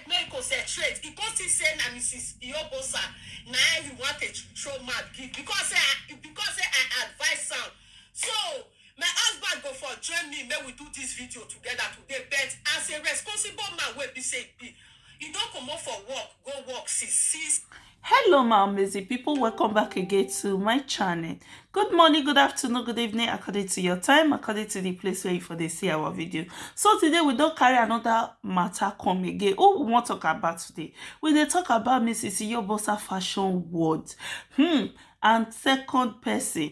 make e concentrate e come see say na mrs iyobosa na he want to throw mouth give because say i because say i advise am so my husband go for join me make we do this video together today but as a responsible man wey be say e be e don comot for work go work since six hello my amazing people welcome back again to my channel good morning good afternoon good evening according to your time according to the place where you for they see our video so today we don't carry another matter come again oh we want to talk about today we they talk about mrs yobosa fashion world hmm and second person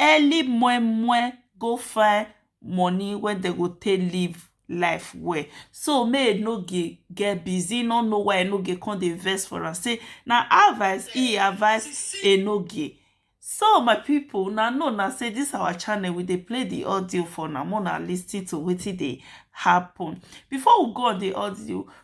Early moin moin go find money wey dem go take live life well so make e no get busy, e no know why Enogie come dey vex for am say na advice e advice Enogie. So my people una know na say this our channel we dey play the audio for una make una lis ten to wetin dey happen. Before we go on the audio,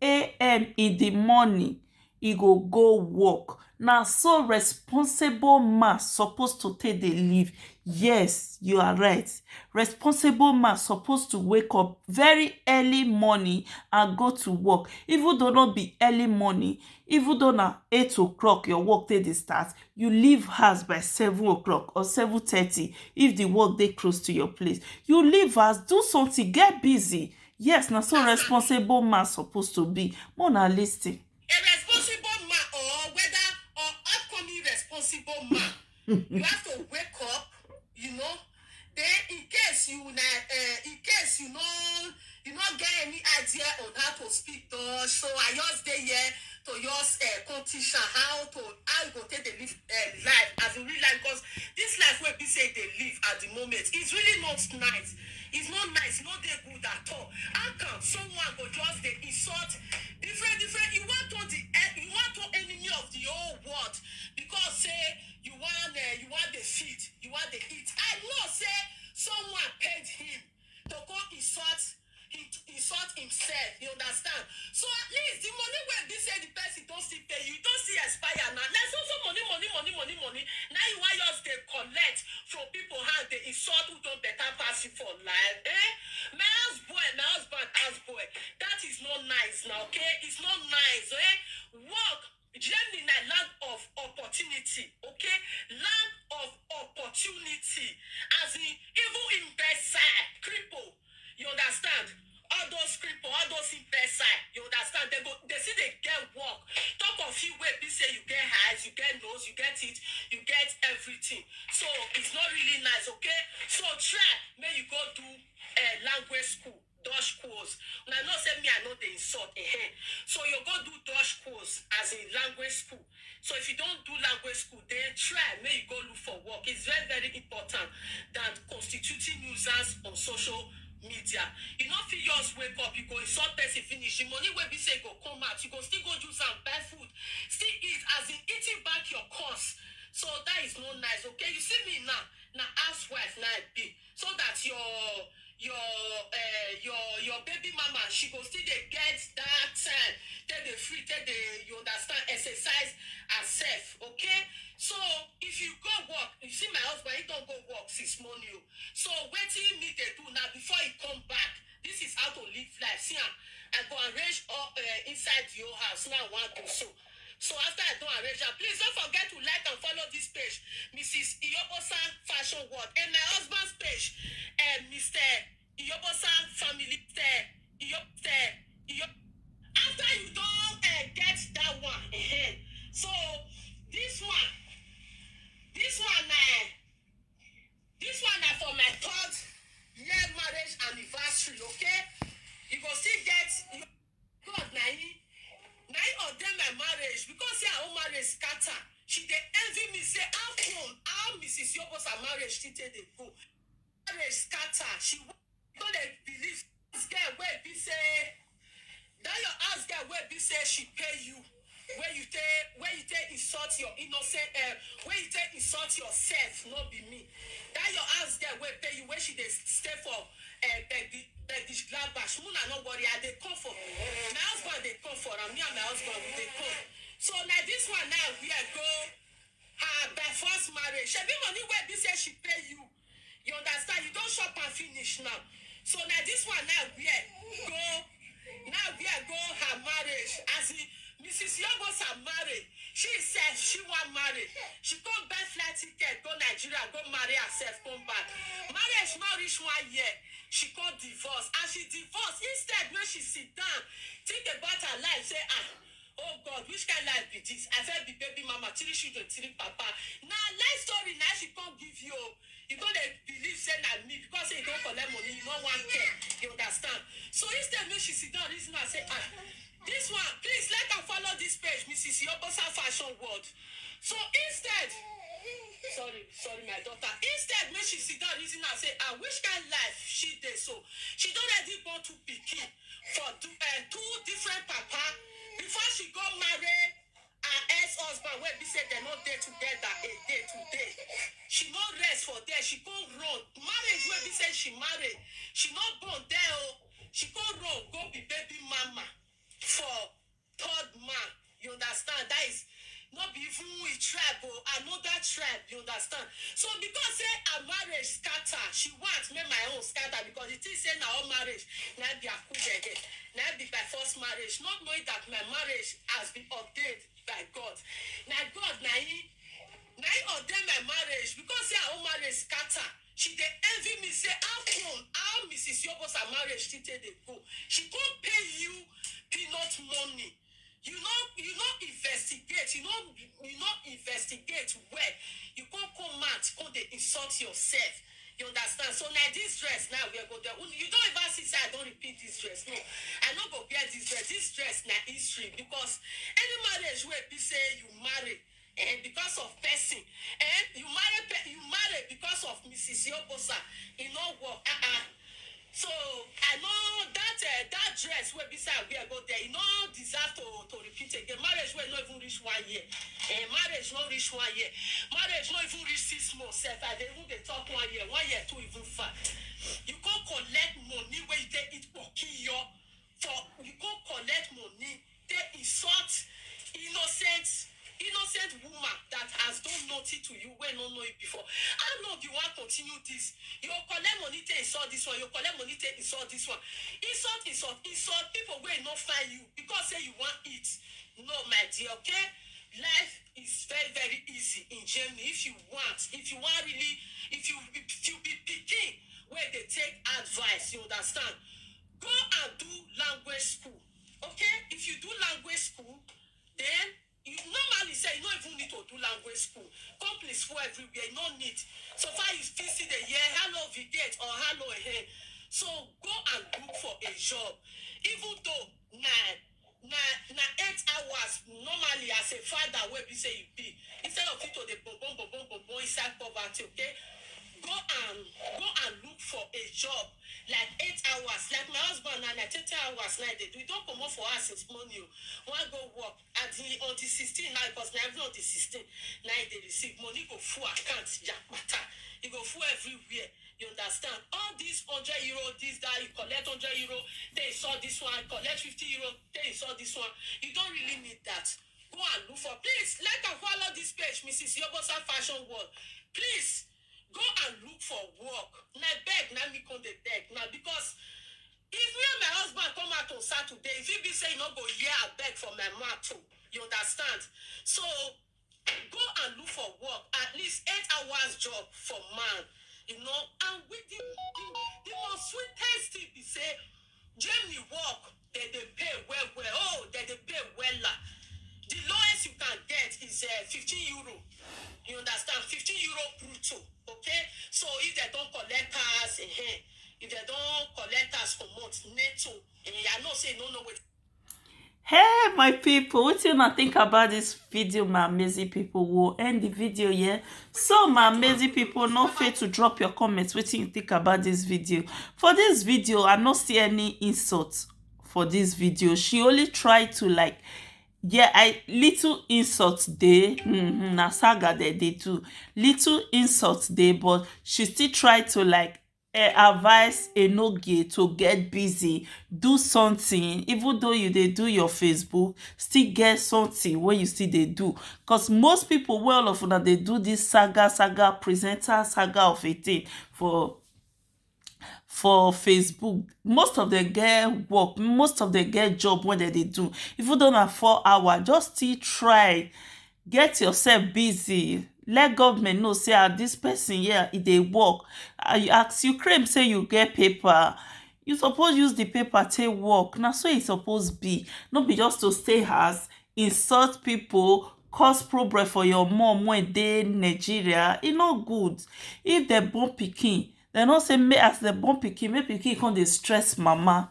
am in di morning e go go work na so responsible man suppose to take dey live yes you are right responsible man suppose to wake up very early morning and go to work even though no be early morning even though na eight o clock your work take dey start you leave house by seven o clock or seven thirty if di work dey close to your place you leave house do something get busy Yes, na so responsible man suppose to be. Make una listen. a responsible man or whether or upcoming responsible man you have to wake up you know then in case you na uh, in case you no you no get any idea on how to speak dutch so i just dey here to just uh, come teach am how to how you go take dey live uh, life as in real life because this life wey be say you dey live at the moment is really not nice It's not nice, e no dey good at all. How can someone go just dey insult different different, you wan turn the eh, you wan turn enemy of the whole world because say you wan eh, you wan dey feed, you wan dey eat. I know say someone paid him to go insult him. insult himself you understand so at least the money wey be say the person don still pay you don still expire na na so so money money money money money na you wan just dey collect from people hand dey insult who don better pass you for life eh my house boy my husband house boy that is not nice na okay it's not nice eh work Germany na land of opportunity okay land of opportunity as in even imbecile cripple you understand all those cripple all those imbecile you understand they go they still dey get work talk of you wey be say you get eyes you get nose you get teeth you get everything so it's not really nice okay so try make you go do uh, language school Dosh quoz. Una know say me I no dey insult ehen. So you go do dosh quoz as in language school. So if you don do language school den try make you go look for work it's very very important than constituting nuisance on social media. You no fit just wake up you go insult person finish the money wey be say e go come out you go still go use am buy food still eat as in eating back your curse. So that is no nice okay you see me now na housewife na I be. so that your your uh, your your baby mama she go still dey get that time take dey free take dey you understand exercise herself okay so if you go work you see my husband he don go work since morning o so wetin me dey do na before he come back this is how to live life see am i go arrange all uh, inside your house now one go so So after I don arrange am, please don't forget to like and follow this page, Mrs. Iyobosa Fashion World, and my husband's page, uh, Mr. Iyobosa Family, Mr. Iyo, Mr. Iyo. After you don't uh, get that one, eh, so this one, this one, uh, this one na for my third year marriage anniversary, okay? You go still get. Cause na him na him ordain my marriage because say her own marriage scatter she dey envy me say how come how Mrs Yobos her marriage still take dey go marriage scatter she no dey believe house girl wey be say that your house girl wey be say she pay you. Wey you take wey you take insult your innocent eh wey you take insult yourself no be me that your aunts there wey pay you wey she dey stay for eh begi begish gladbash make una no worry I dey come for my husband dey come for am me and my husband we dey come so na this one now wear go her by force marriage shebi money wey be say she pay you You understand? You don chop am finish now. So na this one now wear go now wear go her marriage. As in Mrs. Yobosa marry, she said she wan marry. She come buy flight ticket go Nigeria go marry herself come back. Marriage no reach one year. She come divorce. As she divorce, instead make she sit down think about her life say ah Oh God which kind life be this I first be baby mama three children three papa na life story na she come give you oh you come dey believe say na me because say you don collect money you no wan care you understand so instead make she sit down reason am say ah this one please let am follow this page Mrs. Iyobosa fashion world so instead sorry sorry my daughter instead make she sit down reason am say ah which kind life she dey so she don already born two pikin for two eh, two different papa before she go marry her ex husband wey be say dem no dey together a day today she no rest for there she go run marriage wey be say she marry she no born there o she go run go be baby mama for third man you understand that is no be even him tribe o another tribe you understand so because say her marriage scatter she want make my own scatter because she think say na all marriage na be akujede na be by force marriage not knowing that my marriage has been ordained by God na God na him na him ordain my marriage because say her own marriage scatter She dey envy me say how come how Mrs Yobos her marriage still take dey go she come pay you peanut money you no you no investigate you no you no investigate well you come come out come dey insult yourself you understand so na this dress now we go there you don ever see say I don repeat this dress no I no go wear this dress this dress na history because any marriage wey be say you marry Eh, because of person. Eh, you marry pe- you marry because of Mrs. Yobosa. You know what? Uh-uh. So I know that uh, that dress wey be say I wear go there, you no deserve to to repeat again. Marriage wey no even reach one year. Eh, marriage no reach one year. Marriage no even reach six months. Sef, I dey even dey talk one year. One year too even far. You go collect money wey you take eat pokiyo. for u go collect money take insult innocent innocent woman that has done nothing to you wey no know you before how long you wan continue this you collect money take insult this one you collect money take insult this one insult insult insult people wey no find you because say you wan eat no my dear okay life is very very easy in germany if you want if you wan really if you if you be pikin wey dey take advice you understand Go and do language school okay if you do language school then you normally say you no even need to do language school companies full everywhere you no need so far you still see the year hello vigate or hello ehe so go and look for a job even though na Na na eight hours normally as a father wey be say you be instead of you to dey bobon bobon bobon inside poverty okay go and go and look for a job like eight hours like my husband na like thirty hours na e dey do e don comot for house since morning o wan go work at the on the sixteen na because na every on the sixteen na e dey receive money go full account yakpata e go full everywhere You understand? All these hundred euro, this guy you collect hundred euro, they saw this one, collect fifty euro, they saw this one. You don't really need that. Go and look for. Please like and follow this page, Mrs. Yobosa Fashion World. Please go and look for work. Na beg, na me come the beg, na because if me and my husband come out on Saturday, if he be say you no go hear I beg for my mouth too, you understand? So Go and look for work at least eight hours job for man you know and with the the the most sweetest thing be say Germany work dem dey pay well well oh dem dey pay wella the lowest you can get is uh, fifteen euro you understand fifteen euro brutto okay so if dem don collect tax eh, if dem don collect tax comot netto eh, I know say you no know wetin. Hey my people, what do you think about this video, my amazing people? We'll end the video here. So my amazing people, no fail to drop your comments. What do you think about this video? For this video, I don't see any insults for this video. She only tried to like yeah i little insult dey mm-hmm, na saga dey dey do little insult dey but she still try to like E advise Enogie to get busy, do something even though you dey do your Facebook, still get something wey you still dey do cause most people wey all of una dey do this saga saga presenter saga of a thing for for Facebook most of them get work, most of them get job wey dem dey do even though na four hour just still try get yourself busy let government know say ah this person yeah e dey work as you claim say you get paper you suppose use the paper take work na so e suppose be no be just to stay house insult people cause problem for your mum wey dey Nigeria e no good if dem born pikin dem no say make as dem born pikin make pikin come dey stress mama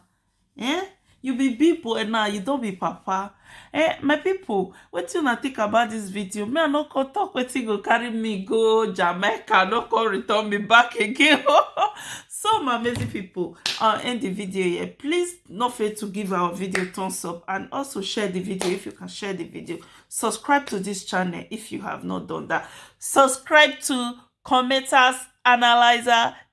Ehn you be big boy now you don be papa eh my people wetin una think about this video me i no come talk wetin go carry me go Jamaica no come return me back again so my amazing people i'll end the video here please no fail to give our video thumbs up and also share the video if you can share the video subscribe to this channel if you have not done that subscribe to commenters analyzer